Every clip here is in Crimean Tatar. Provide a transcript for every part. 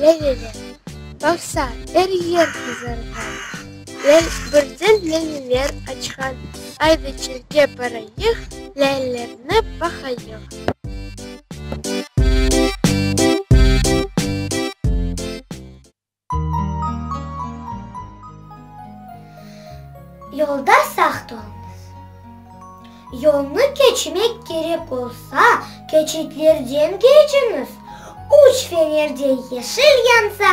Lâleler baqsa, er yer qızarğan. Birden lâleler açqan. Ayda çölge barayıq, Lâlelerni baqayıq. Yolda saq tolunız. Yolnı keçmek kerek olsa, keçitlerden keçiñiz, üç fenerde yeşil yansa,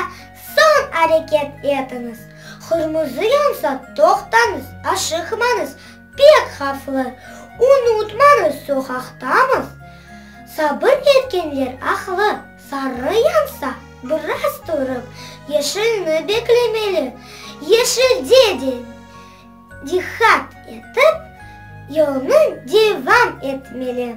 soñ areket etiñiz, qırmızı yansa, toqtañız, aşıqmañız, pek havflı. Unutmañız, soqaqtamız, sabır etkenler aqlı. Sarı yansa, biraz turıp, yeşilni beklemeli. Yeşilde de diqqat etip, yolnı devam etmeli.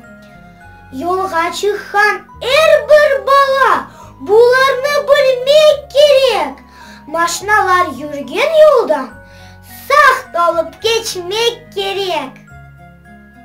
Yolğa çıqqan er bir bala bularnı bilmek kerek. Maşnalar yürgen yoldan sağ qalıp keçmek kerek.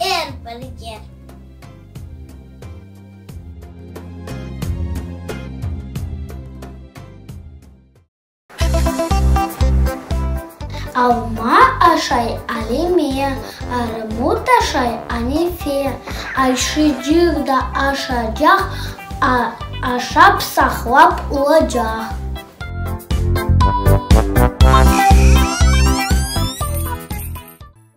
er bir yer. Alma aşay Alime, armut aşay Anefe, ayşıcıq da aşacaq, aşap saqlap olacaq.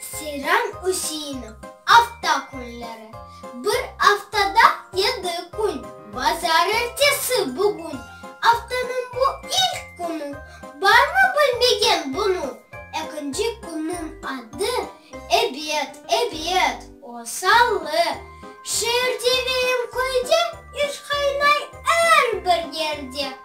Seyran Üseinov, Afta künleri, bir aftada yedi kün, bazar ertesi, bugün, aftanıñ bu ilk künü, barmı bilmegen bunı? Ekinci künniñ adı, ebet, ebet, o, salı, şeerde ve em köyde, iş qaynay er bir yerde.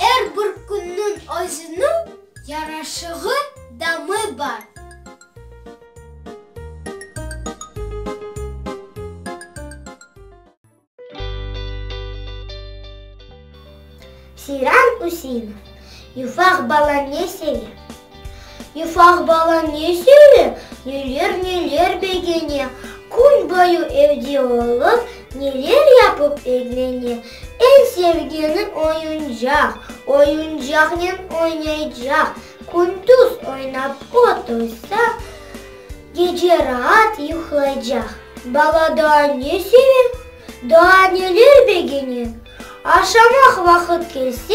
Er bir künniñ özüniñ yaraşığı, damı bar. Seyran Üseinov, Yufaq bala ne seve? Ufaq bala ne söyle, neler-neler begene, Kün boyu evde olıp, neler yapıp eglene, Eñ sevgeni oyuncaq, oyuncaqnen oynaycaq, Kündüz oynap otursa, gece raat yuqlaycaq. Bala daa ne seve, daa neler begene, Aşamaq vaqıt kelse,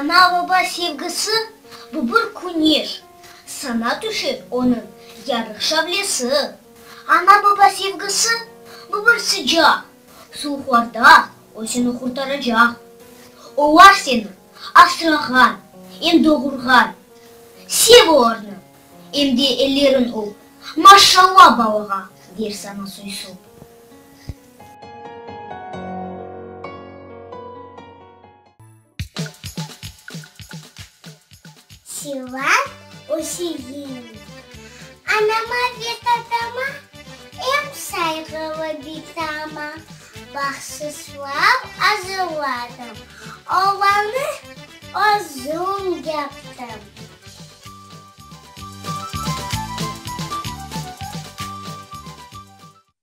Ana-baba sevgisi, bu bir küneş, Saña tüşer onıñ yarıq şavlesi. Ana-baba sevgisi, bu bir sıcaq, Suvuqlarda özüni qurtaracaq. Olar seni asrağan, em doğurğan, Sev olarnı, em de ellerin öp, Maşşalla balağa, der saña soy-sop. Çılaz Öşegin. Anama ve tatama, em sayğılı bitama bahşışlav azırladım. Olanı özüm yaptım.